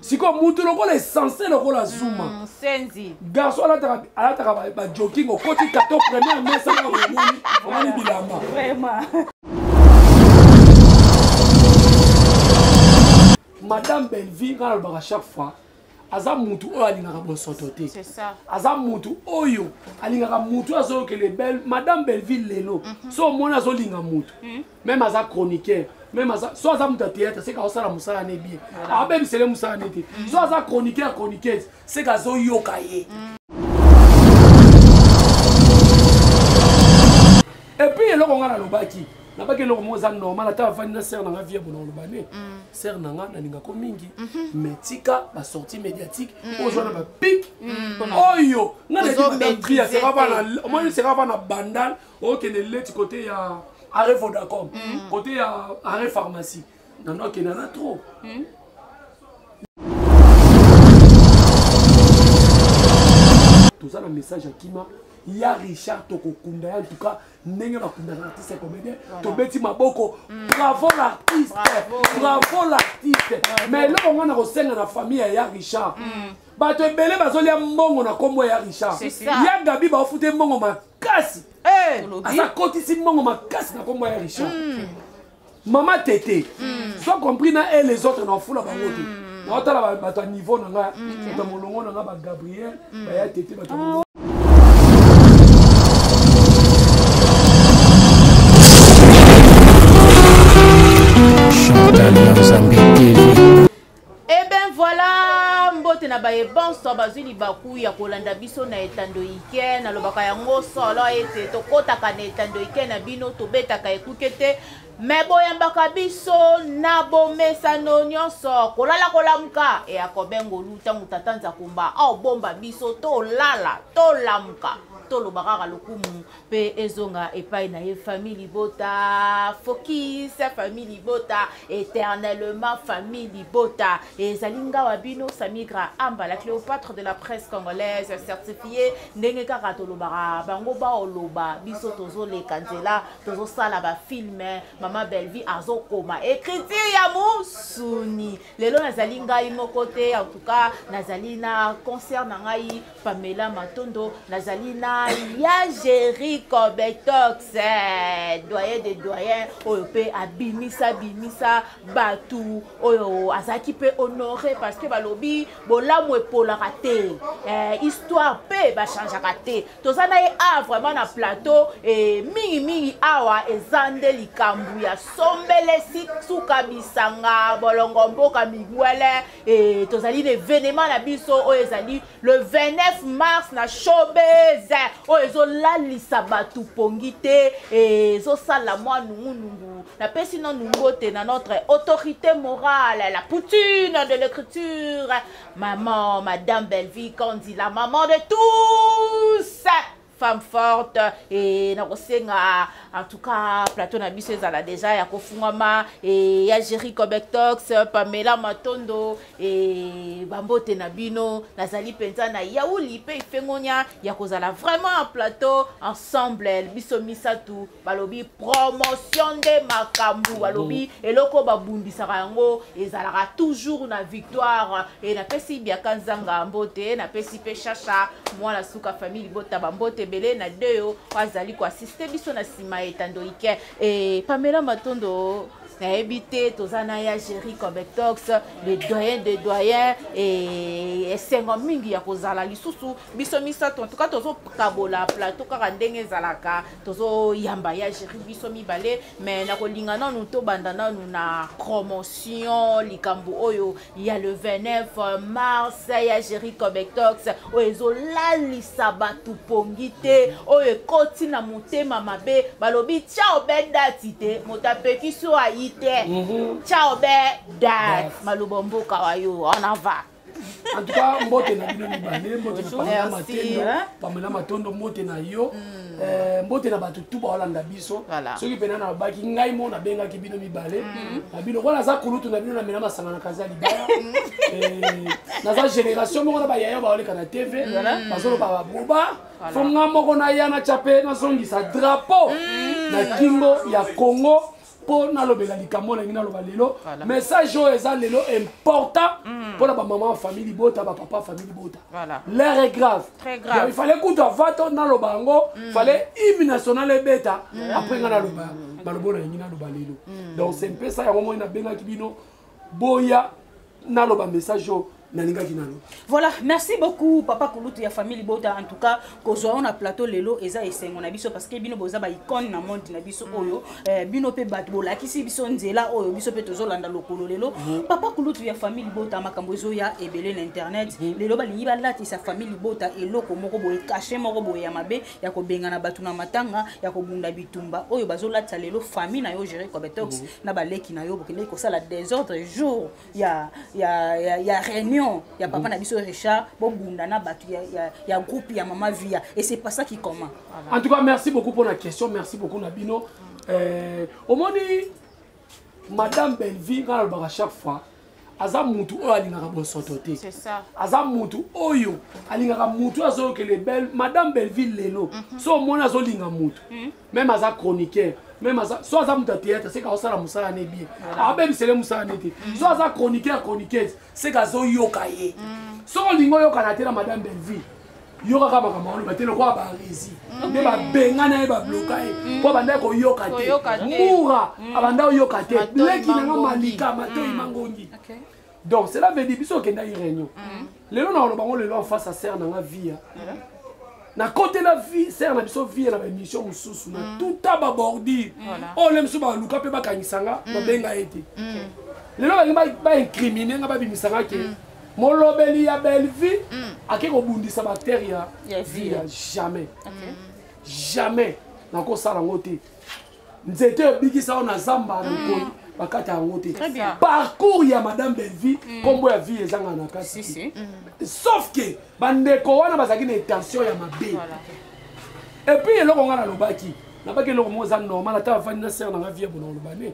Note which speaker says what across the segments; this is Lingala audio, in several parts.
Speaker 1: sikoyo moto lokola esense lokola zuma mm, senzi garso alataka bajoking okoti tato première mesa na omoni omoni bilamba
Speaker 2: madame
Speaker 1: bellevie ngai nalobaka chaque fois aza mutu oyo alingaka bosoto te aza
Speaker 2: mutu
Speaker 1: oyo alingaka mutu oyo azoyokele madame belleville lelo mhm. so omoni azolinga mutu mhm. meme aza chroniqueur meme aza so aza moto ya théâtre seke aosala mosala ne bien abebisele mosala ne te mm. so aza chroniqueur chroniqueuse seke azoyoka ye mm. epuis eloko ngai nalobaki nabaki eloko moko eza normal ata avandi na sere na ngai vie bona oloba ne mm. sere na ngai nalingako mingi mhm. mais tika basortie médiatique mm. ozwa na bapik mm. oyo ngai nayebi batria sera va na omoni sera va na bandal okende leti kote ya are vodacom mm. kote ya are pharmacie nano akenda na trop mm. toza na message ya kima ya richard tokokunda ya ntuka ndenge bakundaka artiste comédien tobeti maboko mm. bravo l'artiste bravo l'artiste mais eloko ngai na kosenga na famille ya ya richard mm. bato ebele bazolia mbongo na nkombo ya richard ya gabi baofute mbongo kasi eh, aza kotisi mbongo makasi na kombo ya richard hmm. mama tete hmm. soit compris na e les autres na ofula bango te hmm. naotala bato ya niveau na nga bato ya molongo na nga bagabriel baya tete bato
Speaker 2: ah, Eh ben voilà, mbote na baye banso bazwi libaku ya kolanda biso na etando ike nalobaka yango solo ete tokotaka na etando ike na bino tobetaka ekuke te me boyambaka biso na bomesano nyonso kolala kolamuka eya kobengolu ntango tata nzakumba aobomba biso tolala tolamuka toloba kaka lokumu mpe ezonga epai na ye famille libota focus famille libota éternellement famille libota ezali ngawa bino samigra amba la cléopatre de la presse congolaise certifié ndenge kaka tolobaka bango baoloba biso tozoleka nzela tozosala bafilme mama bellevie azokoma écriture ya mosuni lelo nazali ngai moko te en tout cas nazali na concert na ngai Pamela Matondo, nazali na ya Jerry Cobetox, eh, doyen de doyen oyo pe abimisa bimisa batu oyo azalaki pe honore parce que balobi bolamu epolaka te eh, histoire pe bachangeaka te toza na ye a vraiment na plateau eh, mingi mingi awa eza nde likambo ya sombele suka bisanga bolongo mboka migwele e, tozali na evenema na biso oyo ezali le 29 mars na showbase oyo ezolalisa bato pongi te e, ezosala mwa nungunungu napesi nanu mbote na notre autorité morale la poutine de l'écriture maman madame bellevie kandila maman de tous femme forte et na kosenga en tout cas plateau na biso ezala déjà ya kofungwama et ya Jerry Cobectox Pamela Matondo et bambote na bino nazali mpenza na yauli mpe ifengonia ya kozala vraiment en plateau ensemble biso misato balobi promotion nde makambo balobi eloko babundisaka yango ezalaka toujours na victoire e napesi biaka nzanga mbote napesi mpe shasha mwana suka famille libota bambote ebele na deyo azali koasiste biso na nsima etando ike e pamela matondo nayebi te toza na ya géri cometox le doyen de doyen esengo mingi ya kozala lisusu biso misato en tout cas tozokabola plateau kaka ndenge ezalaka tozoyamba ya géri biso mibale me nakolinga nanu tobanda nanu na promotion likambo oyo ya le 29 mars ya géri cobectox oyo ezolalisa bato pongi te oyo ekoti na motema mabe balobi ciao be dati te moto apekisi oyo ayi te mhm. ciao be dati maloba mboka wayo on en va en tout cas
Speaker 1: mbote na bino mibale mbote na pamela matendo pamela matondo mbote na yo mm. eh, mbote na bato tu baolanda biso soki mpena nalobaki ngai mo nabengaki bino mibale mm. na bino wana aza kulutu na bino namela masanga na kazi ya libaya mm. eh, naza génération moko na bayaya baoleka na tv bazoloba baboba fo nga moko naya na cape nazongisa drapeau na kingo ya congo mpo nalobela likambo oyo nalingi naloba lelo message oyo eza lelo important mm. mpo na bamama ya famille libota bapapa ya famille libota l'air est grave il fallait kutu
Speaker 2: ava to
Speaker 1: naloba yango mm. fallait hymne national ebeta mm. après ngai naloba maloba oyo nalingi naloba lelo donc se mpesa yango moi nabengaki bino boya naloba message oyo nalingaki nalo voilà
Speaker 3: merci beaucoup papa kulutu ya famille libota en tout cas kozwa yo na plateau lelo eza esengo na biso parce que bino boza baicone na monde na biso mm. oyo eh, bino mpe bato bolakisi biso nzela oyo biso mpe tozolanda lokolo lelo mm. papa kulutu ya famille libota makambo ezoya ebele na internet mm. lelo balingi balatisa famille libota eloko moko boye kashe moko boye ya mabe ya kobengana bato na matanga ya kobunda bitumba oyo bazolatisa lelo famille na yo gere cobetox mm -hmm. na baleki na yo bokendeki kosala desordre jour ya, ya, ya, ya réunion ya papa mm -hmm. na biso richard bobunda na bato ya, ya, ya groupe ya mama via et c'est pas ça qui comment voilà. en tout cas merci
Speaker 1: beaucoup pour la question merci beaucoup na bino mm -hmm. euh, omoni madame bellevie ngai nalobaka chaque fois aza mutu oyo alingaka bosoto te aza
Speaker 2: mutu
Speaker 1: oyo alingaka mutu azoyokele belle madame belleville lelo mhm. so omoni azolinga mutu mhm. meme aza chroniqueur meme aza so aza mutu ya théâtre seka aosala mosala ne bien abebisele mosala ne te mhm. so aza chroniqueur chroniqueuse seka azoyoka ye soki olingi oyokana te na madame belleville yoka kaka makambo aloba te lokola barezi mm. nde babengana ye babloka ye mm. mpo abandaki koyoka te mura mm. abanda koyoka te leki nanga malika matoi mangongi donc cela veut dire biso okendaki réunion lelo na oloba ngo lelo en face ya serre nanga via nakotela vie sere na biso vie na baémission mosusu na mm. tuta babordure oyo oh, le mosusu baluka mpe bakangisa nga mm. babenga ye te mm. lelo bangi baincrimine nga babimisa nga ke molobeli ya bellevue mm. ake kobundisa bactère ya vie ya jamais okay. jamais nakosala yango te nzete ebikisa yo na zamba na nkoi mm. bakata yango te parcours ya madame bellevue mm. nkombo ya vie ezanga na kati mm. sauf ke bandeko wana bazalaki na intention ya mabe epuis eloko ngai nalobaki nabaki eloko moko eza normal ata bafandi na sere nanga vie ya bona olobane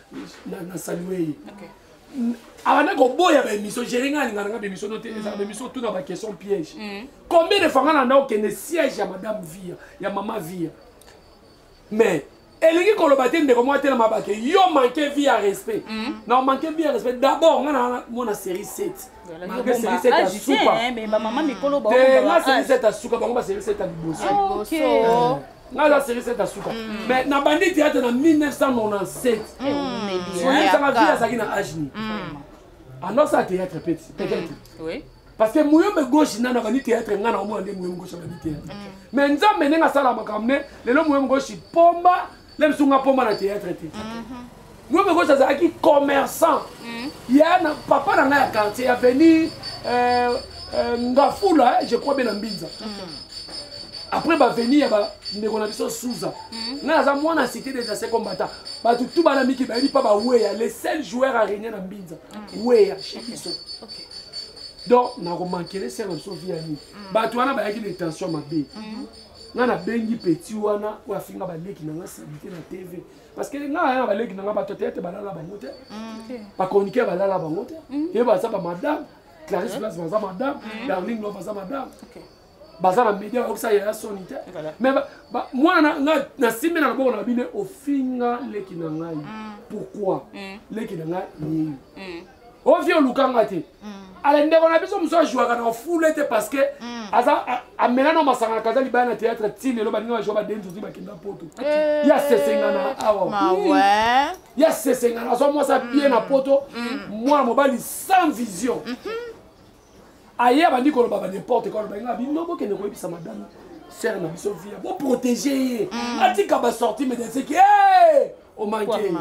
Speaker 1: na, na saluei okay. abanda koboya baémission géré ngai alingana ngai baémission no te mm. ezala baémission tout na baquestion piège mm. combien de fois ngai nanda okende siège ya madame via ya mama via mais elingi koloba te ndeko moko atelema bake yo manke vie ya respect mm. na manke vie ya respect d'abord ngai na mona série 7 malgré série 7 ya suka
Speaker 3: te ngai série 7 ya suka
Speaker 1: bango ba série 7 ya liboso
Speaker 3: nga za
Speaker 1: serie seta suka mais na bandi théâtre na 1997 soyesanga vie azalaki na age nini andosa théâtre peti peut-être parce
Speaker 3: que muyombe
Speaker 1: gauche nano abandi théâtre nga na omona nde muyombe gauche abandi théâtre mais nzambe ndenge asala makambo ne lelo muyombe gauche pomba le bisu nga pomba na théâtre te Ngombe Gauche azalaki commerçant mm. ya na papa na ngai ya quartier avenue euh, euh, Ngafula je crois bien na Mbinza mm. après baveni ya bandeko na biso suza mm. ngai aza mwana cité des anciens combattants bato tu bana miki bayebi mpa baweya le seul joueur a régné na mbinza mm. weya chez biso okay. donc nakomankele sere na biso vi ya nini mm. bato wana bayaki na intention mabe mm. nga nabengi peti wana oyo afinga baleki na nga salite na tv parce que nga ya baleki na nga bato te ete balala bango te mm. bachroniquer balala bango te mm. ye baza bamadame clarisse place baza madame mm. darling lo baza madame baza na media bakokisa yaya soni te mais mwana nasimbi na loboko na bino ofinga leki na ngai pourquoi leki na ngai yeyo ovi oluka nga te mm. ala ndeko na biso mosusu ajouaka na fule te parce que mm. aza amela na masanga na kaza libaya na théâtre ti lelo baninga bajoua badenzi ozwi bakenda poto eh. ya sesengana awa
Speaker 2: ya sesengana
Speaker 1: azwa mwasi abie na poto mwana mobali sans vision mm-hmm. aye abandi koloba ba n'importe quoi aloba nga bino bokende koyebisa madame sere na biso via boprotege ye mm. atika basorti medeceki e omanke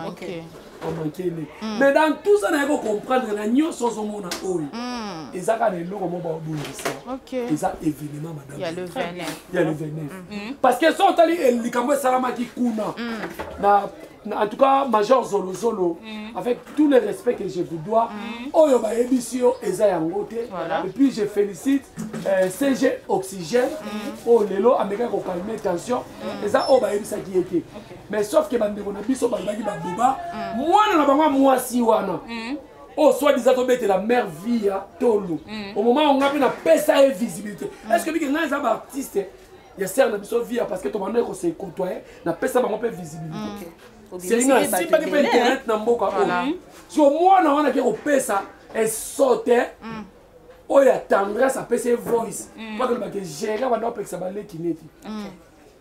Speaker 1: omanke nde mais mm. dans tout ça naye kocomprendre na nyonso ozomona oyo mm. eza kaka na eloko mo baobongisa eza événement madame
Speaker 2: ya le 29
Speaker 1: parce que so otali eh, likambo esalamaki kuna na en tout cas major zolozolo mm. avec tout le respect que je vous dois mm. oyo bayebisi yo eza yango te et puis je félicite euh, cg oxygène mm. oyo lelo amekaki kokalme tension mm. eza oyo bayebisaki ye te okay. mais sauf ke bandeko na biso balobaki baboba mm. mwana na bango mwasi wana mm. oyo soit disa tobetela mare vie ya tolo mm. au moment onga mpe napesa ye visibilité mm. est ce que bike ngai eza baartiste ya sere na biso via parce que tobandaki kose kotoye napesa bango mpe visibilité mm. selinga asimbaki mpe internet na mboka oyo so mwana wana ke kopesa esote mm. oyo ya tendresse apesa ye voice mm. mpo akolobake gere abanda kopekisa baleki neti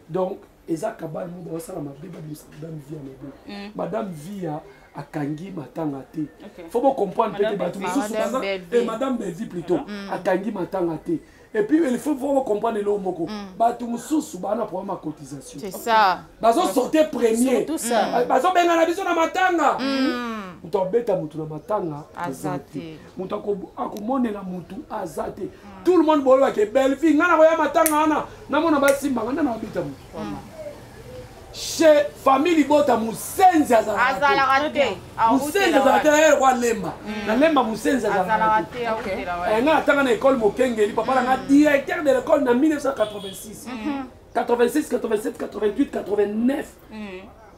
Speaker 1: donc eza kabale mo baosala mabe babimisa madame via mabe madame via akangi matanga te okay. fo bocomprendre mpe te bato mosusu baza e madame bellevie plutôt mm. akangi matanga te et puis il faut vraiment comprendre eloko moko mm. bato mosusu baa na problème ya cotisation
Speaker 2: bazosorte
Speaker 1: premier mm. bazobengana
Speaker 3: biso na
Speaker 1: matanga mm. moto abeta motu na matanga aza te
Speaker 2: moto
Speaker 1: akomonela motu aza te tout le monde boyebake bellevie ngai nakoya matanga wana namona basimbanga nde na babeta motu chez famille libota musenzi azalaka te musenzi azalaka te yeye kwa lemba na lemba musenzi azalaka te eh, nga natanga na ekole mokengeli papa nanga mm. directeur de l'école na 1986 86 87 88 89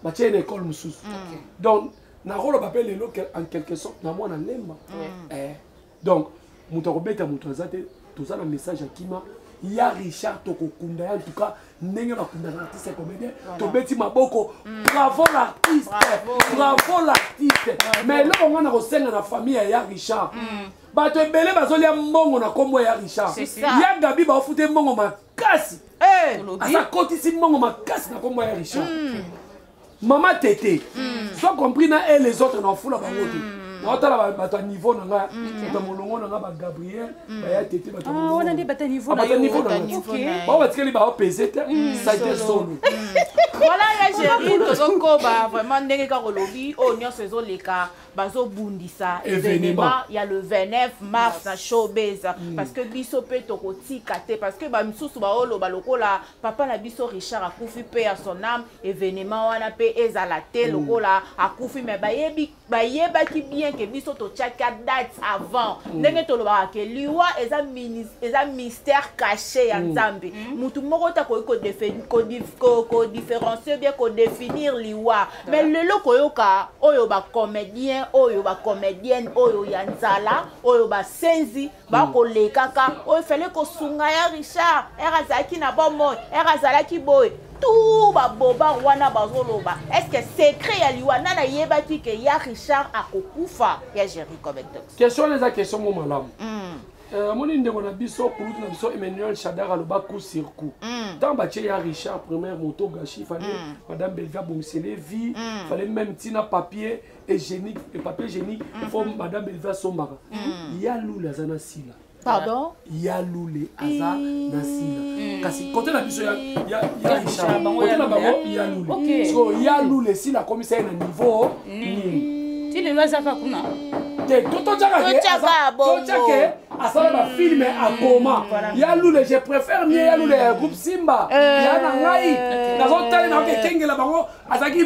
Speaker 1: batie na ekole mosusu mm. donc nakoloba mpe lelo en quelque sorte na mwana lemba mm. eh. donc moto akobeta moto aza te toza na message ya kima ya richard tokokunda ya ntuka ndenge bakundaka artiste ya comédien tobeti maboko mm. bravo l'artiste bravo l'artiste mais eloko ngai nakosenga na famille ya ya richard mm. bato ebele bazolia mbongo na nkombo ya richard ya gabi baofute mbongo makasi eh! aza kotisi mbongo makasi na nkombo ya richard mm. mama tete mm. soit compris na e les autres na fula bango te mm. naotala bato ya niveau na nga mm. bato ya molongo na nga bagabriel mm. baya tete bato ah, wana nde bato
Speaker 3: ya niveau ah,
Speaker 1: bao batikeli bao pese te mm. site solo voilà ya
Speaker 2: géri tozokoba vraiment ndenge kaka olobi oyo oh, nyonso ezoleka bazobundisa evenema ya le 29 mars na showbase parce que biso mpe tokotika te parce que bamisusu baoloba lokola papa na biso richard akufi mpe ya son ame evenema wana mpe ezala te mm. lokola akufi me bayebaki bien ke biso totyaki a date avant mm. ndenge tolobaka ke liwa eza, eza mystère caché ya mm. nzambe motu moko te akoki kodifferencie bien kodefinir liwa me lelo koyoka oyo bacomédien oyo bacomédienne oyo ya nzala oyo basenzi bakolekaka oyo oh, fale kosunga ya richard ere azalaki na bomoi ere azalaki boye tout babobar wana bazoloba estce secret ya liwa nani ayebaki ke ya richard akokufa ya géri comectos question wana eza question mo
Speaker 1: malamu hmm. eh, amoni ndeko na biso kulutu na biso emmanuel shadar aloba coup sur coup ntango hmm. batye ya richard première moto gashi fale hmm. madame belvi abongisele vie fale meme ntina papier egénie papier egénie fo madame belva asombaka ya lula aza na sila pardon ya
Speaker 2: lule
Speaker 1: aza na sila hmm. kasi kote na biso ya richard kote na bango ya lule so ya lule sila akomisa ye na niveau nini ti lelo azaka kuna
Speaker 3: te totyakake
Speaker 1: asala bafilme akoma hmm. ya lule je préfère mie ya lule ya groupe simba euh. ya na ngai nazotali naoke ekengela bango azalaki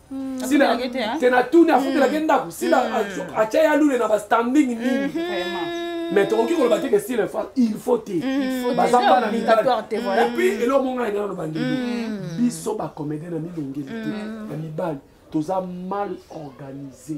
Speaker 1: Hmm. sila te natuni afutelaki hmm. ndako sila hmm. atya ya lule na bastanding nini mais tokoki koloba te ke sila fa il faut te baza bana mibaliepui eloko monga ena naloba ndelo biso bacomédien na milongeli te na mibali toza mal organisé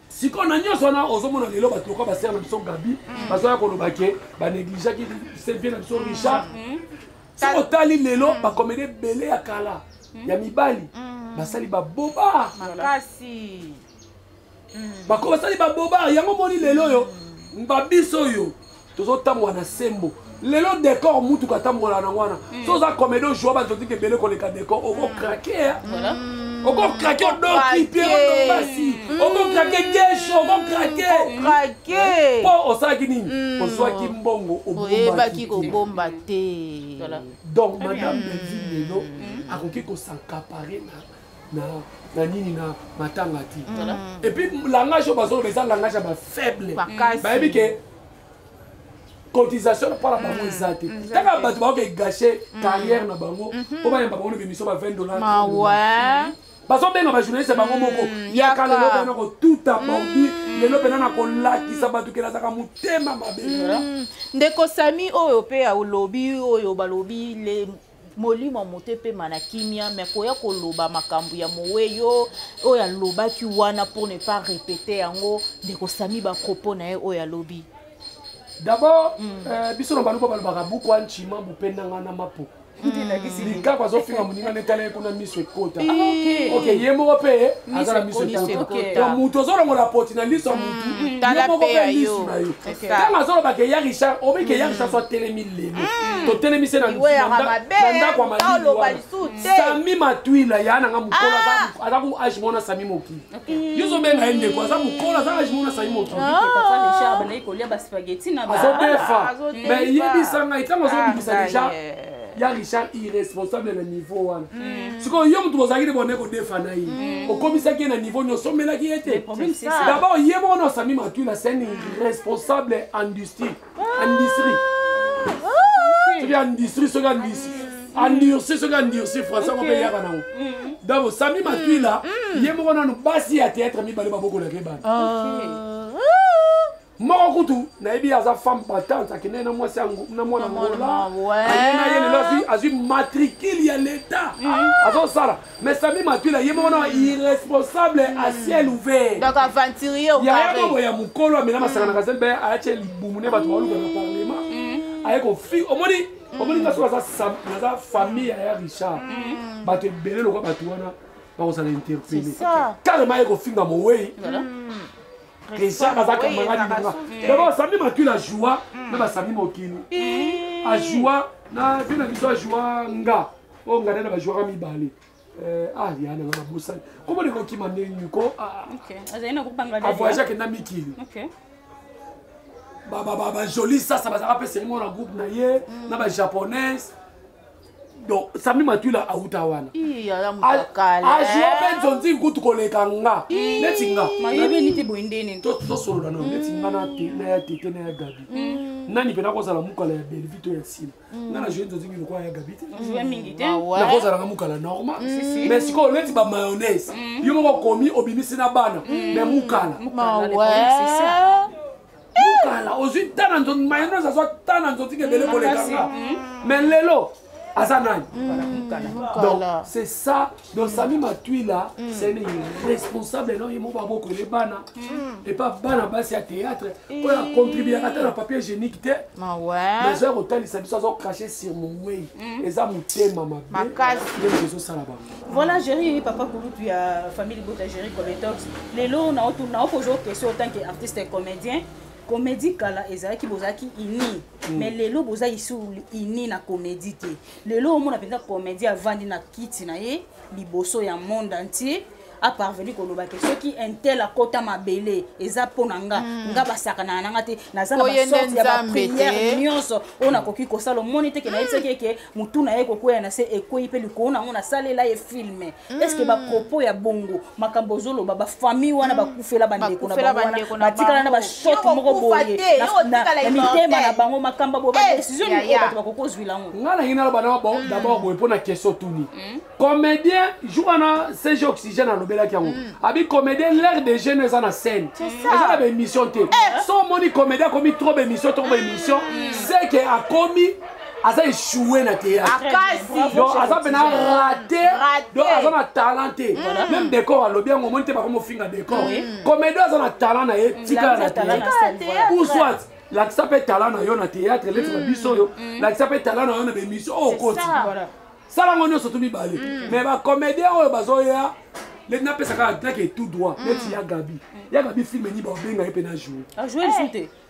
Speaker 1: sikoyo na nyonso wana ozomona lelo bato lokola basere na biso gabi mm. bazoya koloba ke banegligeaki sevie na biso mm. richard mm. soki otali lelo bakomede ebele ya kala ya mibali basali baboba bako basali baboba yango moni lelo
Speaker 2: oyo
Speaker 1: babiso oyo tozotambola na sembo lelo decor mutuka atambola na wana mm. so oza comedi ojua bato otika ebele koleka decor okokrake mm. okokrake mm. odoki mpe odobasi okokrake geshe okokrake mpo osalaki nini ozwaki mbongo oyebaki
Speaker 2: kobomba te donc
Speaker 1: madame belvi lelo akoki kosankapare na na na nini na matanga te epuis langage oyo bazoloba eza langage ya bafaible bayebi ke cotisation mpo na bango eza te kaka bato bakoke gâche carrière na bango mpo bayamba bango na bimission ba 20 dollars bazobenga bajournaliste bango moko yaka lelo bana kotuta porti lelo mpena na kolakisa bato kela azaka motema mabe ndeko
Speaker 2: sami oyo mpe olobi oyo balobi molimo moto epema na kimia me koya koloba makambo ya mowe yo oyo alobaki wana pour ne pas répéter yango ndeko sami bapropos na ye oyo alobi d'abord
Speaker 1: mm. euh, biso na baluba balobaka bukwa ncima bupendanga na mapo likako azofinga moninga nde tala ye kuna miso ekota ah, ok ye moko mpe aza na miso ekota moto ozolongola poti na liso ya motu ye moko mpe liso na yo ntango azolobaka eya richard obeke ya richard so atelemi lelo hmm. totelemi se na ndako ya malisami matwila ya nanga mokolo ah. aza ku age mona sami mokili hmm. yo ozobenga ye ndeko aza mokolo aza age mona sami mokili ah. azobefa me yebisa ngai ntango azobimisa ah, deja ya richard irresponsable na niveau wana hmm. sikoyo yo motu bozalaki nde bone kodefa na ye hmm. okomisaki ye na niveau nyonso omelaki ye te dabord ye moko na osami matwila c'est un irresponsable industrie industrie soki industrie soki industrie endurci soki endurci français yango mpe eyaka nango mm. donc sami matwila mm. ye moko nanu basi ya théâtre mibale babokolaka ye bana ah. moko kutu nayebi aza femme patante akendeki na mwasi na mwana ngola aye na ye lelo azwi matricule ya leta mm. azosala Mais Sami Matula ye moko na irresponsable à ciel ouvert. Donc aventurier
Speaker 2: au carré. Ya ya ya mukolo
Speaker 1: amela masanga na kazel ben a chez libumu ne batu baluka na parlement. Mm. Aye ko fi omoni omoni mm. ngaso za sam za famille ya Richard. Mm. Batu ebele lokwa batu wana bakozala interpellé. Carrément aye ko finga mowei. Richard azaka mangani manga. D'abord Sami Matula joua na ba Sami Mokini. Ajoua na vina biso ajoua nga. oyo ngai na bajouaka mibale eh, ah ya nanga nabosani komo ndeko kima ndenge nini ko avoyage akenda mikili bajoli sasa bazalaka mpe selingo na groupe na ye mm. na bajaponaise donc sami matula auta wana azwa mpe nzonzi kutu koleka nga neti nga
Speaker 3: tosolola nano neti
Speaker 1: nga na ya tete na ya gabi mm. nani mpe nakozala mokala ya bellevie to ya nsima nga na joue tozingi lokola ya gabi te Jouer mingi te. nakozalaka mukala normal mais sikoyo neti ba mayonnaise yo moko okomi obimisi na bana mais mukala Mukala, le problème, c'est ça. mukala ozwi ta na nzoto mayonnaise azwa ta na nzoto kebele kolekanga mais lelo aza nani Mukala. donc c'est ça donc sami matwila mm. c'est un responsable non ye moko babokwele bana mm. epa bana basi ya théâtre oyo acontribuaka ata na papier génique te mazo ya kotalisa biso azo crache sur mowei mm. eza motema mabemakasi ezosala bango voilà géri
Speaker 3: papa kulutu ya famille libota géri cometox lelo naokozwa question autant que artiste comédien comédie kala ezalaki bozalaki ini Mm. mais lelo boza isu ini na comédie te lelo omona mpenza comédie avandi na kiti na ye liboso ya monde entier aparvenu koloba ke soki intel akota mabele eza mpo na nga mm. nga basakanaka na nga te naza na basorte ya bapriere nyonso oyo nakoki kosala omoni teke nayebisaki eke motu na ye kokwea na se ekwei mpe likolo na yango nasalela ye filme est ce que ba propos ya bongo makambo ozoloba ba famille wana bakufela bandeko na bango wana batikala na ba choc moko boye na mitema na bango makambo bo ba eh, décision nini bato bakoki ozwila yango nga nangi naloba na hmm.
Speaker 1: d'abord boye mpo na question tuni hmm. comédien jour wana cg oxygène alobelaki yango hmm. abi comédien l'air de jeune eza na scène eza na baémission te eh. so omoni comédien akomi trop baémission trop baémission seke akomi aza echoue na teatraaza ah, mpena rate donc aza na talent te mm. meme décor alobi yango omoni te bakomofinga décor mm. comédie aza na talent na ye tikala na teatre ou soit lakisa mpe talent na yo na teatre leti na mm. biso oyo lakisa mpe talent na yo na bemission oyo okoti sala yango nyonso tu mibale mais bacomédien oyo bazoya leti napesaka atlake tout droit neti ya gabi ya
Speaker 3: gabi
Speaker 1: filme nini baobenga ye
Speaker 3: mpe na
Speaker 1: jour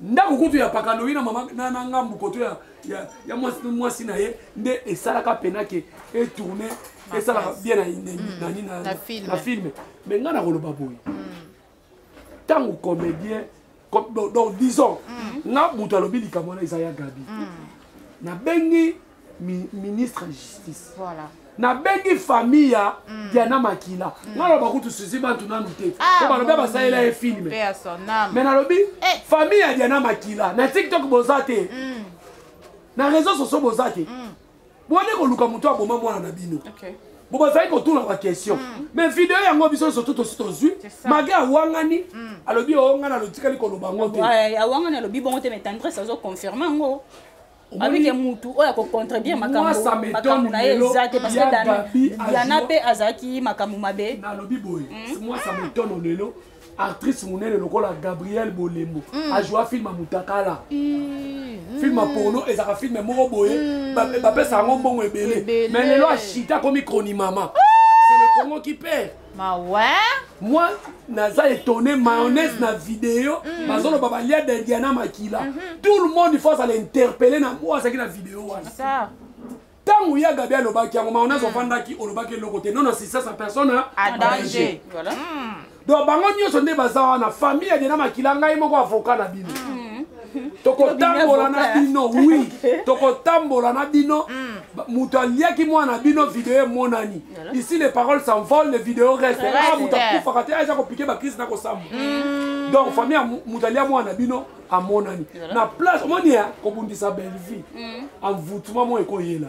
Speaker 1: ndako kutu ya pakaloi na mama na, na ngambu koto ya, ya, ya mwasi, mwasi na ye nde esalaka pena ke etourne esalaka bien na, mm. na, na, na, na, film. na filme me ngai nakoloba boye ntango mm. comédien com, donc, donc disons mm. nga moto alobi likambo wana eza ya gabi mm. nabengi mi, ministre ya justice voilà nabengi famille ya mm. diana makila mm. naloba kutu susi bantu nanu te po ah, balobi basalela ye filme me nalobi eh. famille ya diana makila na tiktok boza te mm. na réseau socio boza te mm. bone koluka moto aboma mwana na bino okay. bo bazali kotuna baquestion mm. mais video yango biso nyonso tu tosi tozwi mage awangani mm. alobi oonga na lotikali koloba yango te awangani alobi bongo
Speaker 3: te mais tendresse azoconfirme yango alobi ke mutu oyo akocontredire makambo na ye eza te parce que yana mpe azalaki makambo mabe nalobi boye hmm?
Speaker 1: mwasa metono lelo actrice monene lokola gabriel bolembo hmm. ajoua filme ya mutakala hmm. filme ya porno ezalaka filme moko boye bapesa yango mbongo ebele mais lelo ashita akomi cronimama ah! c'est le congo qui perd mawa
Speaker 2: moi
Speaker 1: naza étonné mayonnaise mm. na video mm. bazoloba balia dendiana makila mm -hmm. tout le monde faut azala interpellé na oyo azalaki na video wana
Speaker 2: ntango
Speaker 1: ya gabi alobaki yango mayonnaise mm. ofandaki olobaki eloko te non assistance à personne à danger
Speaker 2: voilà. mm. donc bango
Speaker 1: nyonso nde baza wana famille ya dena makila ngai moko avocat na bino mm. tokotambola na bino wi tokotambola na bino mm. moto aliaki mwana na bino video emonani ici les paroles s'envolent les vidéos reste ah, moto akufaka te aza kopike bakrise na kosamba mm. donc famille ya moto alia mwana na bino amonani na place omoni ya kobundisa bellevie envoutuma mm. moko ekoyela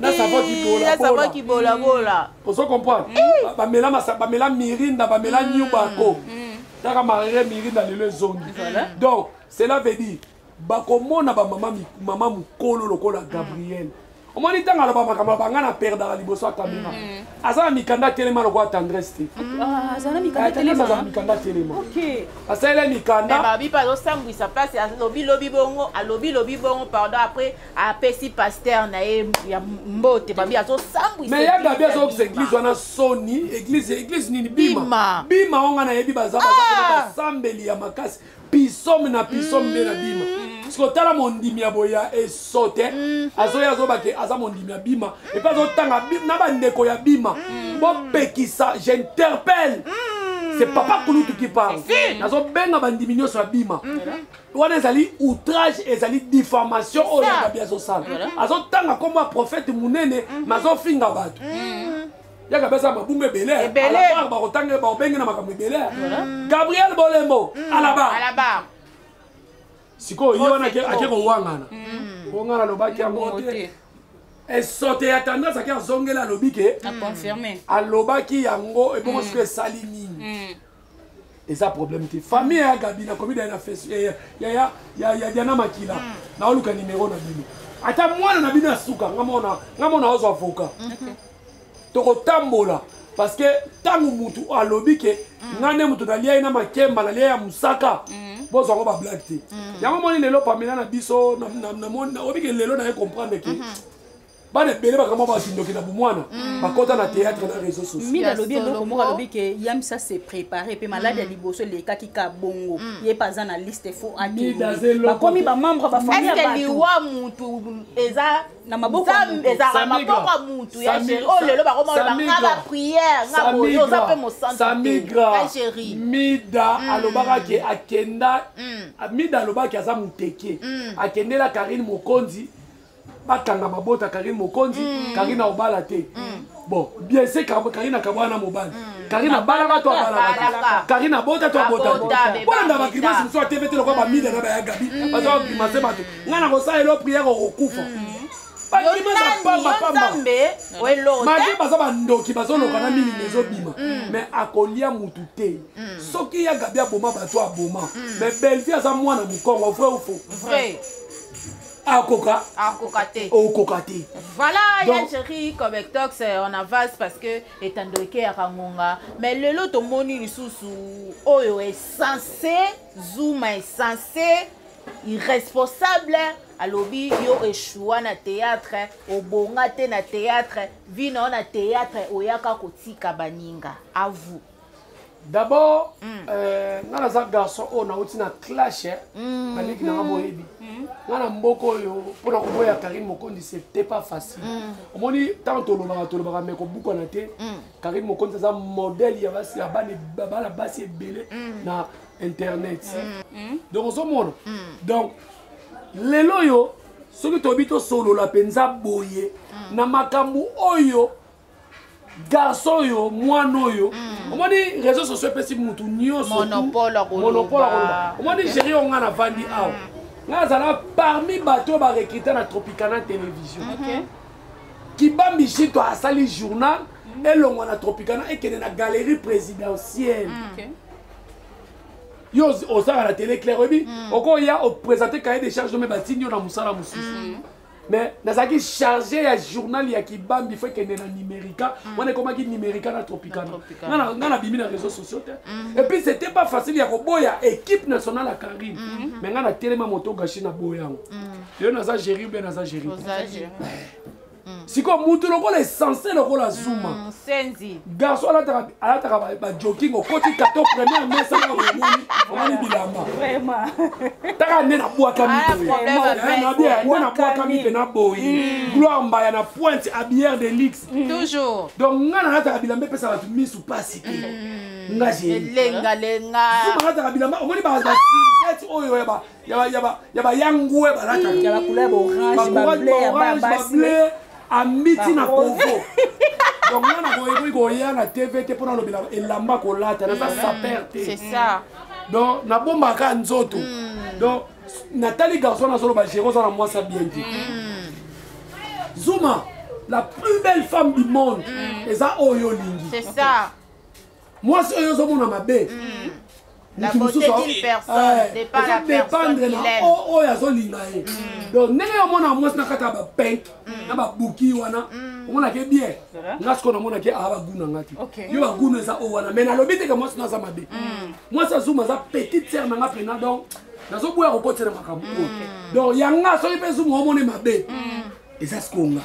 Speaker 1: na savon kibolabola savon kibolabola ozo comprendre mm. bamela masa bamela mirinda bamela mm. nyubako mm. kaka marere mirinda lelo ezongi donc cela veut dire bakomona bamama mama mokolo lokola gabriel omoni ntango aloba makambo abanga na perdaka liboso ya kamera aza na mikanda atelema lokola tendresse te
Speaker 3: ah, aza na mikanda
Speaker 1: atelema asalela mikanda eh,
Speaker 2: alobi lobi bongo alobi lobi bongo pardon après apesi pasteur na ye ya mbote babi azosambwisa ya gabi azokisa
Speaker 1: eglise wana soni eglise eglise nini bima bima onga nayebi baza ah! basambeli ya makasi pisome na pisome nde na bima mm. siko tala mondimi ya boye ya esote mm. azoya azoba ke aza mondimi ya bima epe azotanga na bandeko ya bima mm. bopekisa j'interpelle c'est papa kulutu qui parle nazobenga bandimi nyonso ya bima mm-hmm. wana ezali outrage ezali diffamation oyo yagabi azosala azotanga nkombo ya prophète monene mhm. ma azofinga bato mhm. yaka pesa mabunga ebele alabar bakotanga baobenge na makambo ebele mhm. gabriel bolembo alabar sikoyo ye wana ake kowangana po ngai nalobaki yango te esote ya tendance ake azongela alobi ke alobaki yango ebongo siko esali nini eza problème te famille ya gabi nakomi daya na face eh, ya diana makila hmm. naoluka nimero na bino ata mwana na bino ya suka nga mona nga mona ozwa avoka tokotambola parce que ntango motu alobi ke hmm. nga nde motu nalia ye na makemba nalia ya mosaka hmm. bozwa ngo bablage te yango moni lelo pamela na biso obike lelo naye comprendre ke bana ebele bakama bakindoki na bomwana mm. bakota na théâtre na réseau socialmina alobi eloko moko alobi
Speaker 3: ke yamisa se prépare mpe maladi ya mm. liboso elekaki ka bongo mm. ye mpe aza na liste fo akebakomi bamembre bafamille ya bato liwa mutu
Speaker 2: eza na maboko ezalaka maboko ya mutu ya géri oyo lelo bakomona nga ba prière nga boye oza mpe mosantuya géri
Speaker 1: mida mm. alobaka ke akenda mm. mida alobaki aza moteke mm. akendela karine mokonzi bakanga mabota karine mokonzi mm. karine aobala te mm. bon biese karine akabwana na mobali mm. karine abalaka to abalaka karine abota to abota te bolanda bagrimase mosusu ateve te lokola bamida na baya gabi baza bagrimase bato ngai nakosala elo priere okokufa bagrimase apamba pamba mage baza bandoki bazoloka na milimo ezobima mais akolia motu te soki ya gabi aboma bato aboma mais bellevie aza mwana mokongo vrai ou faux akoka akoka te
Speaker 2: okoka te voilà ya chéri comectox euh, on avance parce que etando ekeyaka ngonga mais lelo tomoni lisusu oyo esense zuma esense irresponsable alobi yo echua na théâtre obonga te na théâtre vi na yo na théâtre oyaka kotika baninga à vous d'abord
Speaker 1: mm. euh, nga naza garçon oyo nauti na clash eh. mm. baleki nanga boyebi mm. nga na mboka oyo mpo na koboya karine mokondi c'était pas facile omoni ntango tolobaka tolobaka me kobukana te karine mokondi aza modèle ya basi ya bana basi ebele na internet donc ozomona donc lelo oyo soki toyebi tosolola mpenza boye na makambo oyo garçon oyo mwana oyo mm. omoni réseau sociaux epesi motu nyonso monopole
Speaker 2: akoloba
Speaker 1: omoni géri oyo ngai navandi mm. awa ngai azala parmi bato oyo barekrite na tropicana télévision kibambi shito asali journal mm. elongwa na tropicana ekende na galerie présidentielle yo ozalaka na télé claire oyebi okoya oprésente cahier de charge ome batindi yo na mosala mosusu mais nazalaki charge ya journal ya kibambi fo ekende na numérica mm. wana ekomaki numérica na tropicana nga nabimi na réseau sociaux te mm. epuis c'était pas facile ya koboya équipe nationale ya carine mm-hmm. mais nga natelema moto gashi na boya yango yo mm. naza géri oubien naza géri sikoyo mutu lokola esense lokola zuma senzi garçon
Speaker 2: alataka
Speaker 1: alataka ba jogging okoti kato première mesa na omoni omoni bilamba vraiment
Speaker 3: taka nde
Speaker 1: na bwaka mi ah, na bien nde na bwaka mi pe na boyi hmm. gloire mbaya na pointe à bière de luxe hmm. toujours donc
Speaker 2: nga nalataka
Speaker 1: bilamba epesa bato misu pasi te hmm. nga je elenga lenga
Speaker 2: zuma alataka
Speaker 1: bilamba omoni ba serviette oyo ya ba ya bayangue
Speaker 3: balatakaorange ambiti na
Speaker 1: kovo donc nga na koyekoki koya na tv te mpo nalobela elamba kolata naza mm. saper te
Speaker 2: donc nabombaka
Speaker 1: nzoto mm. donc natali garçon nazoloba gero oza na mwasi ya bien te mm. zuma la plus belle femme du monde eza oyo olingi
Speaker 2: mwasi
Speaker 1: oyo ozomona mabe mm.
Speaker 2: dépendre na oyo azolinga
Speaker 1: ye mm. donc ndenge yo omona mwasi na kati ya bapenk mm. na babuki wana mm. omonake bien nga sikoyo namonake aa bagunu yanga te yo bagunu eza oyo wana mai nalobi teke mwasi na aza mabe mwasi azuma aza petite sere na nga mpena donc nazoboya kokotela makambo oyo donc yanga soki mpe zuma omone mabe eza sikoyo nga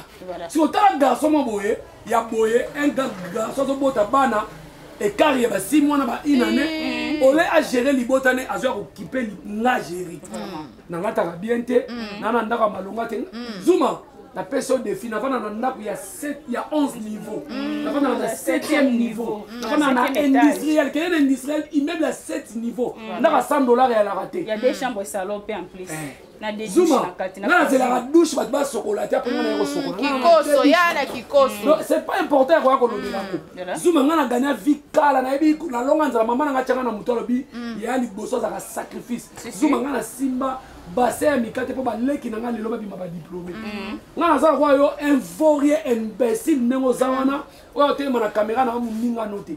Speaker 1: si otala garçon mwa boye ya boye un garçon azobota bana ekart ya basi mwana ba une année eh. ole agere libota ne azwa kokipe nga geri nangataka bien te mm. nana ndako ya malonga te mm. zuma napesi yo defi nafanda na ndako ya 11 niveau mm. nafandaka na 7e niveau nafandaka na industriel kende na industriel immeuble ya 7 niveau ndako ya 100 dollar ya laka te ya deux chambre salon
Speaker 3: mpe en plus eh. zuma nga nazelaka
Speaker 1: douche bato basokola te apres nga naye kosokolakoso ya na
Speaker 2: kikoso c'est pas important ya koya
Speaker 1: kolobela yango mm, zuma nga na gagna vie kala nayebi nalonga nzala mama nanga tyanga na moto alobi mm. ya liboso azalaka sacrifice zuma nga nasimba base ya mikate mpo baleki na nga lelo babima badiplome mm. nga naza lokola yo invorie imbécile ndenge oza wana oyo otelema na kamera na yo moningano te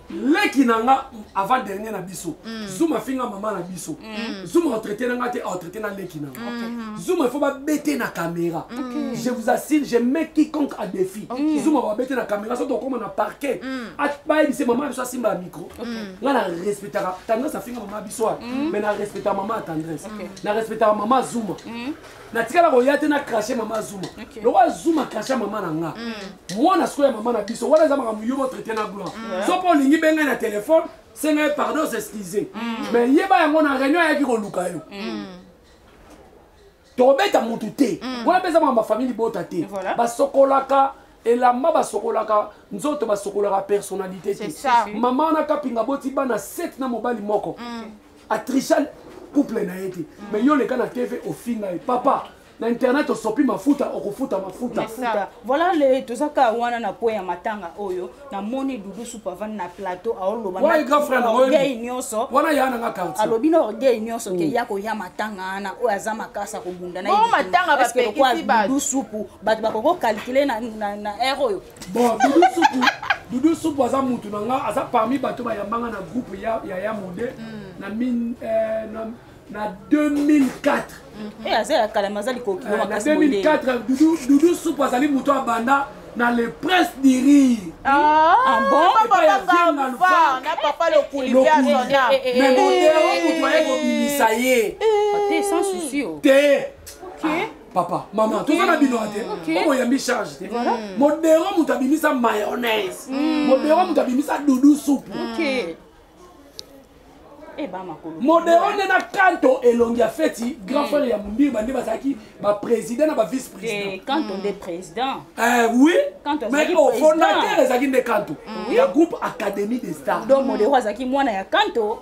Speaker 1: leki na nga avant dernier na biso mm. zuma afinga mama na biso mm. zuma atraite na nga te atraite na leki na nga okay. Mm-hmm. zuma il faut babete na caméra okay. je vous assure je mets quiconque à défi okay. zuma babete na caméra soki tokoma na parquet mm. bayebise mama na biso asimba ya micro mm. nga na respectaka tendresse afinga mama ya biso wana mm. mais na respectaka mama ya tendresse okay. na respectaka mama zuma mm. natikala koya te na crache mama zuma lokola zuma crache mama na nga mm. mwana sikoyo ya mama na biso wana eza makambo yo botraite na gloire mm. so mpo olingi bengai na telefone senga ye pardon s'excuse mm. mais yeba yango na réunion ayaki koluka yo tokobeta motu te wana mpe eza makambo ya famille libota te basokolaka elamba basokolaka nzoto basokolaka personnalité te mama wana kapinga boti bana 7 na mobali moko atricha couple na ye te mais yo oleka na tv ofinga ye papa na internet osopi mafuta okofuta mafuta voilà le
Speaker 3: toza kaka wana na point ya matanga oyo namoni dudu supa avandi na plateau aolobagei
Speaker 1: nyonso alobi na orgueil nyonso
Speaker 3: ke mm. ya koya matanga wana oyo aza makasi akobunda nayedudu
Speaker 2: supu bato
Speaker 3: bakoki kokalkule na ere oyo bon dudu supu
Speaker 1: dudu supu aza mutu na nga aza parmi bato bayamba nga na groupe ya ya, ya mode mm. na, min, eh, na na 2004 mm-hmm. eh, aza
Speaker 3: ya kala me aza likoki eh, na 2004
Speaker 1: dudu, dudu supu azali moto abanda na le prince du rire
Speaker 3: ah, ah bon
Speaker 2: papa lokuliviasonamoto
Speaker 1: aye kobimisa ye
Speaker 3: te
Speaker 1: papa mama toza na bino te okoyambi charge te mm. modero moto abimisa mayonnaise mm. modero moto abimisa dudu supu eh, modero nde na kanto elongi ya feti grand mm. frère ya mondirba nde bazalaki baprésident na bavice président
Speaker 3: eh, oui
Speaker 1: mais oh, fondateur ezalaki nde kanto ya groupe académie des stars donc modero azalaki mwana
Speaker 3: ya kanto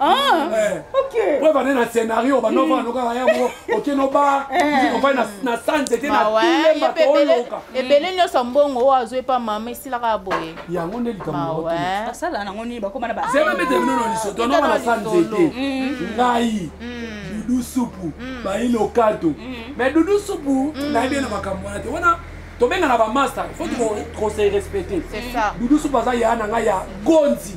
Speaker 1: Ah, eh.
Speaker 3: ok. Preuve ane na
Speaker 1: scénario ba nova hmm. loka ya mo ok no ba eh. ko na na sanze te na tule ba to loka. Ebele nyoso
Speaker 2: mbongo wa zo epa mama esila ka boye. Ya ngo nde likambo.
Speaker 1: Basala na ngo ni
Speaker 3: ba koma na ba. Zema mete bino no liso
Speaker 1: to no na sanze te. Hmm. Ngai. Hmm. Dudu supu ba ilo kato. Mais dudu supu na ebele makambo na te. Wana tobengana bamasta fo tokose respecte dudusu
Speaker 2: baza ya na ngai
Speaker 1: ya gonzi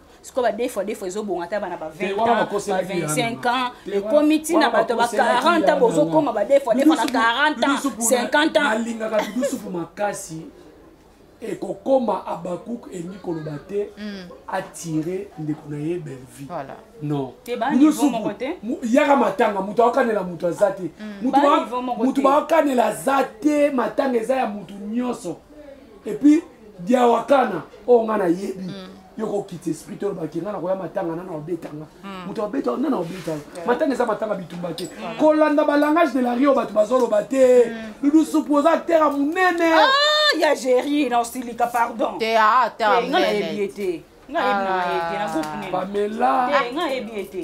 Speaker 3: sikoyo ba defo defo ezobonga ata bana ba 20 ans ba 25 ans ekomi ntina bato ba 40 ans bozokoma ba defo defo na 40 ans 50 ans alingaka bidusupu
Speaker 1: makasi ekokoma abakuk elingi koloba te mm. atire ndeko na ye bellevie non
Speaker 3: yaka matanga
Speaker 1: moto aokanela moto aza te mm. moto baokanela aza te matanga eza ya moto nyonso et puis diawakana oyo nga nayebi mm. yo kokita esprit oyo bake nga nakoya matanga nana obetanga mm. moto abeta nana obetanga matanga eza matanga bitumba te mm. kolanda balangage de la rio bato bazoloba te dudu supu oza acteur ya monene ah, ya géri
Speaker 3: na osilika pardon te ata nga
Speaker 2: nayebi
Speaker 3: ye te nga yebi na ye te na groupe nini bamela nga
Speaker 1: yebi ye te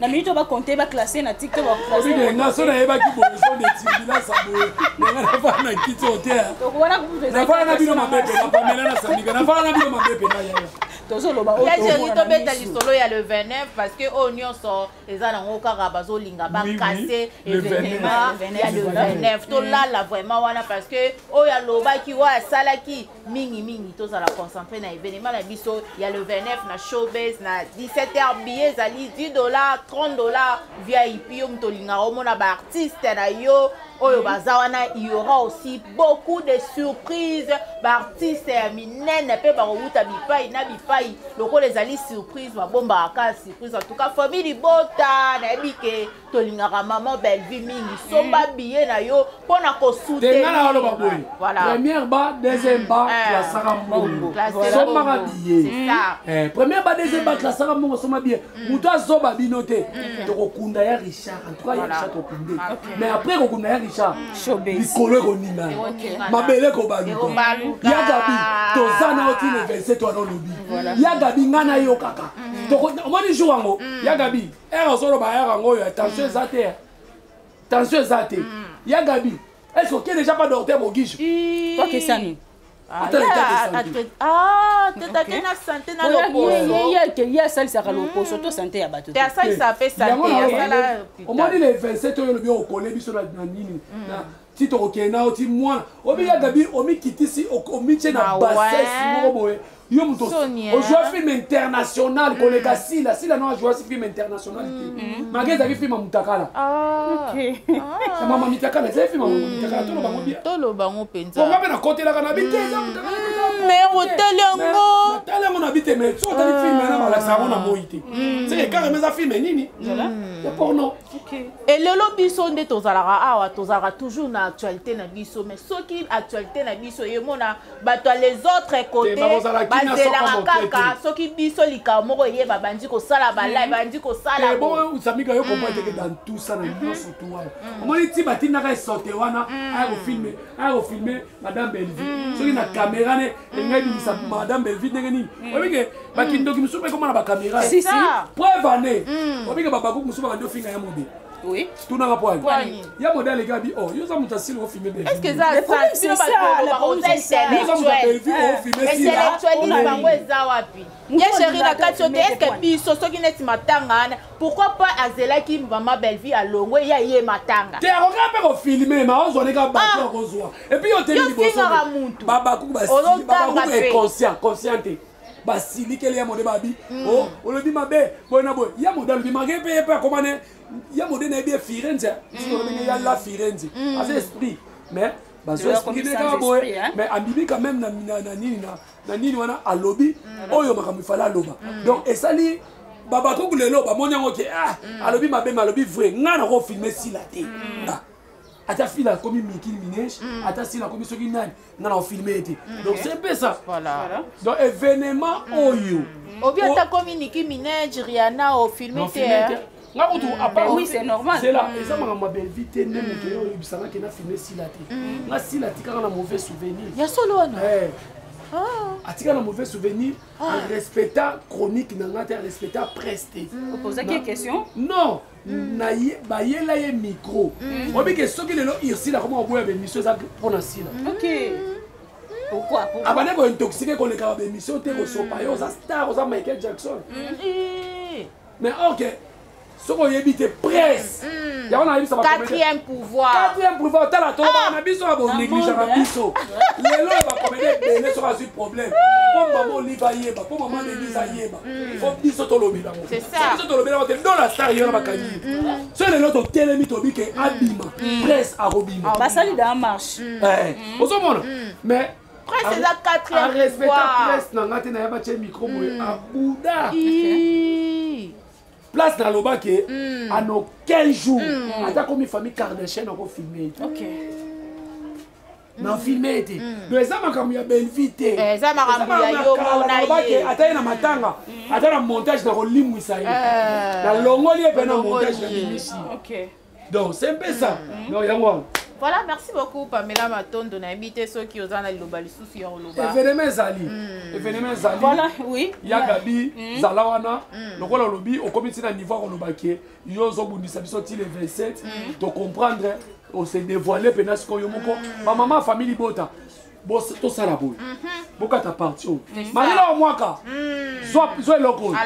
Speaker 3: na minute oyo bakonte ba classe na tiktok nga so nayebaki
Speaker 1: boeso de tibilasa boye nanga nafana na kiti oyo te nafana na bino mabe mpe napamela
Speaker 3: na
Speaker 1: sandika nafana na bino mabe mpe
Speaker 3: na
Speaker 1: yaya
Speaker 3: tozoloba oyo
Speaker 2: tobeta lisolo ya le 29 parce que oyo nyonso eza nango kaka bazolinga bakase evenema ya le 29 tolala vraiment wana parce que oyo alobaki oyo asalaki mingi mingi tozala concentre na evenema na biso ya le 29 na showbase na 17 heure billet ezali 10 dollar 30 dollar vip yo moto olingaka omona baartiste na yo oyo baza wana il y aura aussi beaucoup de surprise baartiste ya minene mpe bakowuta bipai na bipai lokola ezali surprise babombaka kaka surprise en tout cas famille libota nayebi ke tolingaka maman bellevue mingi somba mm. biye na yo mpo na kosutenga na oloba
Speaker 1: boye première ba deuxième ba eh. klasaka mbongo sombaka biye mm. eh, première ba deuxième ba mm. klasaka mbongo somba biye moto azoba bino te tokokunda ya richard entouka ya richard tokunde ah, mais après kokunda ya richard likolo ekoningana mabele ekobaluka ya gabi toza na yo tine 27 wana olobi ya gabi ngai nayokaka omoni jour yango ya gabi ere ozoloba ere yango oyo tension eza te tension eza te ya gabi est ce oke déjà pas docteur bogijo okesani
Speaker 2: ye ake ye asalisaka
Speaker 3: lokoso to sante ya bato
Speaker 2: omoni le 27
Speaker 1: oyo olobi okole biso na nini ti tokokende na yo ti mwana obiya mm. gabi omikitisi omitye na ah basese moko boye yo moto ozwa film international mm. koleka sila sila no azwasi film international te mm. mage ezalaki film ya mutakala ah. ah. mama mitakala ezali film ya mutakala toloba ngo bia toloba ngo
Speaker 2: mpenza onga mpe nakotelaka na
Speaker 1: bite eza mutakala me otali
Speaker 2: yango natali yango na bite me
Speaker 1: so otali film yana malakisa yango na moi te seke kaka mpe eza film nini ya porno Okay. Et lelo
Speaker 2: biso nde tozalaka awa tozalaka toujours na actualité na biso mais soki actualité na biso yemona bato ya les autres côté bazelaka kaka soki biso likambo moko eye babandi kosala balai babandi kosalaaosamika yo komwa
Speaker 1: teke dans tout ça na nyonso tu wana omoni ti batindaka esote wana aya kofilme aya kofilme madame bellevue soki na caméra ne ndenge ebimisa mm. madame belvi ndenge nini mm. obike mm. bakindoki mosusu mpe ekoma na bakamera preuve ane obike babakuku mosusu babandi ofinga ya mode Oui. Tout n'a
Speaker 3: rapport.
Speaker 1: Ya modèle les gars dit oh, yo za muta silo au filmer Est-ce que ça ça
Speaker 2: silo ba ko ba ko ça. Yo za muta Bellevue au filmer silo. Intellectualiste bango eza wapi? ye chéri na kati yo te eske biso soki neti matanga wana pourquoi pas azelaki mama bellevie alongwe ya ye matanga te akokaa mpe kofilme
Speaker 1: ma ozwa ndenge bato akozwa epuis yo teli libosofingaka motu babakuku babakuku inconscient conscient te basilikeli ya mode babi mm. oh, olobi mabe boye na boye ya mode alobi make mpe ye mpe akoma ne ya mode nayebi ye firenze ndenge ya la firenze aza esprit mais bazwa esprit nde kaka boye mais abimi quand même na nini na na nini wana alobi mm. oyo makambo ifale aloba mm. donc esali babakuku lelo bamoni yango ke ah, mm. alobi mabe me alobi vrai ngai nako filme sila te ah, ata fila akomi mikili minege ata sila akomi soki nani ngai nako filme ye te donc c'est mpe ça donc
Speaker 2: événement
Speaker 1: oyo obi ata komi
Speaker 2: niki minege riana ofilme te nga kutu mm. apart
Speaker 3: oui c'est normal zela mm. eza makambo ya
Speaker 1: belvi te nde mm. moto yo oyebisanga ke na filme sila te nga sila atikaka na mauvais souvenir ya solo wana eh. ah. atika na mauvais souvenir ah. arespecta chronique na nga te arespecta presse te opozaki ye question
Speaker 3: non
Speaker 1: bayela ye micro obike soki lelo ursile akoma koboya bemission eza mpo na sila
Speaker 3: abande
Speaker 1: kointoxike koleka ba bemission te kosopa yo oza star oza michael jackson mais or que soki oyebi te presse mm. yango nayebisa quatrième pouvoir
Speaker 2: quatrième pouvoir otala tolobaka
Speaker 1: ah. na biso ya bonegligeaka biso lelo ya bakomedi ebele soki azwi problème mpo mama olive ayeba mpo mama denise mm. ayeba mm. fo biso tolobela ngo biso tolobela ngo te
Speaker 2: dola
Speaker 1: star yo na bakangi so lelo totelemi tobi ke abima presse akobima basali da
Speaker 3: marche eh, ozomona
Speaker 1: mais presse eza
Speaker 2: quatrièmearespectapresse na ngai te na ya batye
Speaker 1: micro boye hmm. abuda place nalobaki hmm. en aucun jour hmm. ata komi famille kardachien akofilme na filme ete do eza makambo ya belvi te eh, eza makambo ya yo
Speaker 2: mona ye ata ye na matanga
Speaker 1: ata na montage na kolimwisa ye eh. na longoli ye mpe na montage na bimisi
Speaker 3: donc c'est un
Speaker 1: peu ça mm. donc yango wana voilà merci beaucoup
Speaker 2: pamela matondo nayebi te soki oza na liloba lisusu ya oloba evenema ezali hmm.
Speaker 1: evenema ezali voilà
Speaker 3: oui ya gabi hmm.
Speaker 1: zala wana hmm. lokola olobi okomi ntina niveau ya koloba ke yo ozobundisa biso ti le 27 tocomprendre ose dévoile mpena sikoyo moko bamama famille libota tosala boye mhm. bokata parti oyo malela wa mwaka zwa eloko oyo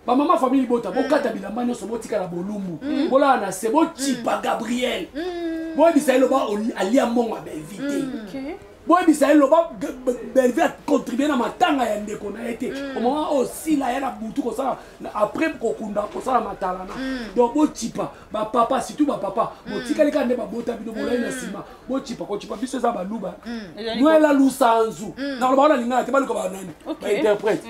Speaker 1: bamama famille libota mm. bokata bilamba nyonso botikala bolumbu mm. bolala na se bocipa mm. gabriel boyebisa ye loba alia mbongo ya belvi te boyebisa ye loba belvi acontribue na matanga ya ndeko na ye te omama oyo sila ya na butu kosala après kokunda kosala matalana donc bocipa bapapa surtout bapapa mm. botikali kaka nde babota bino bolai na mm. nsima bocipa kocipa biso eza baluba mm. nwela lusanzu nakoloba wana lingana te baluka banani bainterprète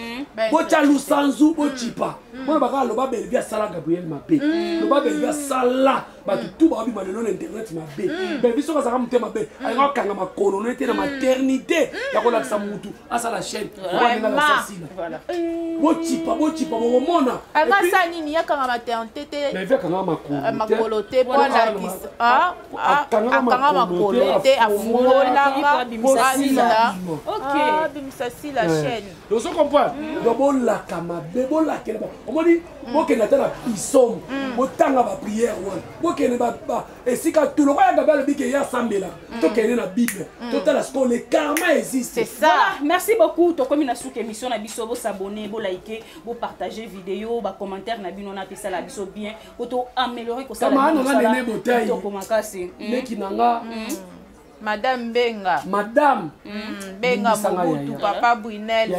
Speaker 1: botya lusanzu bocipa mpona bakaka loba belvi asala gabriel mabe loba belvi asala bato tu bakobima lelo na internet mabe belvi soki azalaka motema mabe alingaka kokanga makolo na ye te na maternité ya kolakisa motu asala chaîne bocipa bocipa bokomona akasa nini
Speaker 2: yakanga maternité te euh,
Speaker 1: makolo te
Speaker 2: po alakisa ah, ah, akanga makolo te afungolaka bimisa sila bimisa sila chaîne ozo comprendre hmm.
Speaker 1: donc bolaka mabe bolakela omoni hmm. bokende ata na pisome hmm. botanga baprière wana bokende esika tu lokola gabe alobi ke ye asambela mm. tokende na bible mm. totala sikoyo le karma existe voilà merci
Speaker 3: beaucoup tokomi na suka émission na biso bosabone bolike bopartage video bacommentaire na bino nato esala biso bien po to améliorer kosalatooko
Speaker 1: makasi mm. leki na nga madame
Speaker 2: benga madame
Speaker 1: benga
Speaker 2: mobutu papa brunel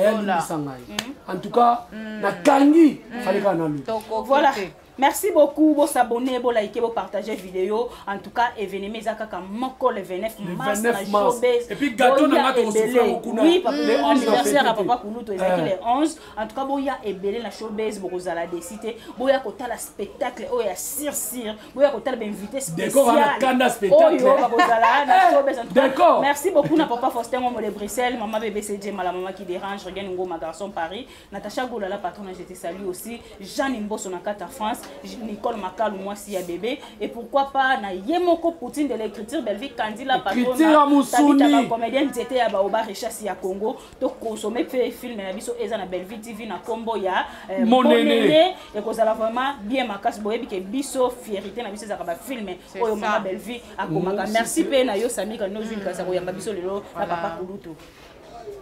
Speaker 2: en tout
Speaker 1: cas nakangi falekana lo voilà
Speaker 3: Merci beaucoup, bo s'abonner, bo liker, bo partager vidéo. En tout cas, événement eza kaka moko le 29 mars na showbiz. Et puis
Speaker 1: gâteau na ngato ko souffrir beaucoup na. Oui, papa, le
Speaker 3: 11 anniversaire à papa Kuluto ezaki le 11. En tout cas, bo ya ebele na showbiz boko zala décité. Bo ya kotala spectacle oyo ya sir sir. Bo ya kotala ba invité spécial. Décor na kanda
Speaker 1: spectacle. Oyo bako zala na
Speaker 3: showbiz en tout cas. Merci beaucoup na papa Faustin Ngombo de Bruxelles, maman bébé CJ, maman qui dérange, regagne Ngoma garçon Paris. Natacha Gola, la patronne, je te salue aussi. Jeanne Mbosso na Kata France, Nicole Makalou, moi si ya bébé. Et pourquoi pas na Yemoko Poutine de l'écriture, Bellevue Candy, la patronne. Kitira Moussoni. comédienne, j'étais à Baoba Richesse ya Congo. To consommer fait film na biso eza na Bellevue TV na combo ya euh, Mon aîné.
Speaker 1: Et qu'on a vraiment
Speaker 3: bien ma casse boye que biso fierté na biso za ba film. Oyo mama Bellevue akomaka. Merci pe na yo Sami ka no vin ka sa ko yamba biso lelo na papa Kulutu.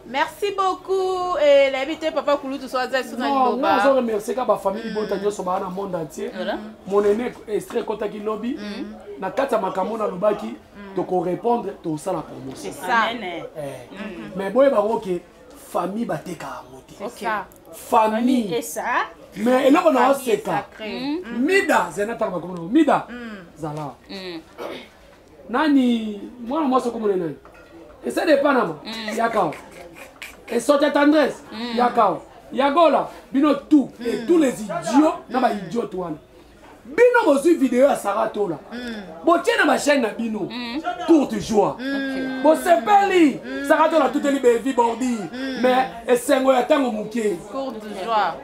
Speaker 3: merci
Speaker 2: beaucoup eh, nayebi te papa kulutu so aza esu na liloba nazo remercie
Speaker 1: ka bafamille libota mm. nyonso baa na monde entier monene estre ekotaki lobi mm. na kati ya makambo nalobaki mm. tokorépondre tosala promotion eh.
Speaker 2: mm-hmm.
Speaker 1: mais boyeba yango ke famille bateka yango te
Speaker 2: famille
Speaker 3: mais eloko na
Speaker 1: oseka mida zena tanga makomo mida zala nani mwana mwasi okomona nani esala epanama mm. yakawa esoti ya tendresse mm. yakawa yagola bino tout mm. et tous les idiots na baidiote wana bino bozwi video ya sara tola botie na bachaine na bino tour du joie bosepeli sara tola tuteli bevi bordi mais esengo ya ntango moke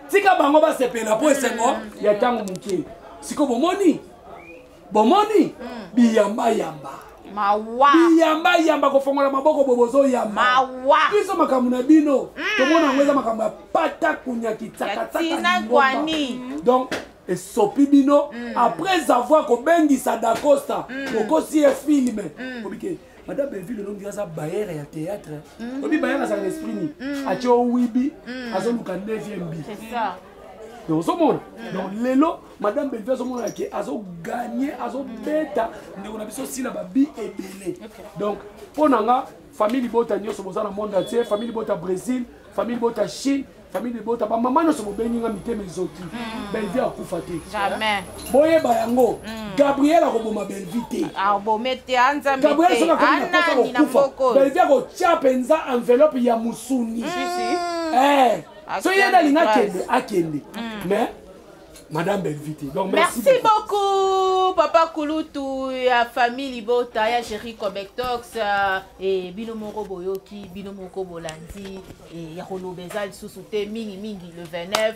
Speaker 2: tika bango basepela
Speaker 1: mpo esengo ya ntango moke sikoyo bomoni bomoni mm. biyamba yamba mawa
Speaker 2: biyamba yamba
Speaker 1: kofongola maboko bo bozoyamba mawa biso
Speaker 2: makambo na
Speaker 1: bino mm. tomona yango eza makambo ya pata kunyaki tsakatsakani
Speaker 2: donc
Speaker 1: esopi bino mm. après avoir kobengisa dacosta mm. okosi ye filme mm. obike madame belleville olongi aza bayere ya théâtre mhm. obi bayere azala na esprit nini mhm. atye owibi mhm. azoluka 9e bi
Speaker 2: donc ozomona
Speaker 1: donc lelo madame belleville azomona ke azoganye azobeta ndeko na biso sila babi ebele donc mpo na nga famille libota nyonso boza na monde atie famille libota brésil famille bota chine famille libota bamama nyonso bobengi nga mitema ezoki mm. belvi akufa te
Speaker 2: boyeba yango
Speaker 1: mm. gabriel akoboma belvi te
Speaker 2: ah, gabriel soki akomi na posa
Speaker 1: kokufa belvi akotya mpenza enveloppe ya mosuni mm. eh. soki ye nde alinga akende akende mais Madame Bellevue te. Donc merci, merci beaucoup.
Speaker 2: beaucoup papa Kulutu ya famille Libota ya Jerry Cobectox euh, et bino moko boyoki bino moko bolandi et ya kolobeza lisusu te mingi mingi le 29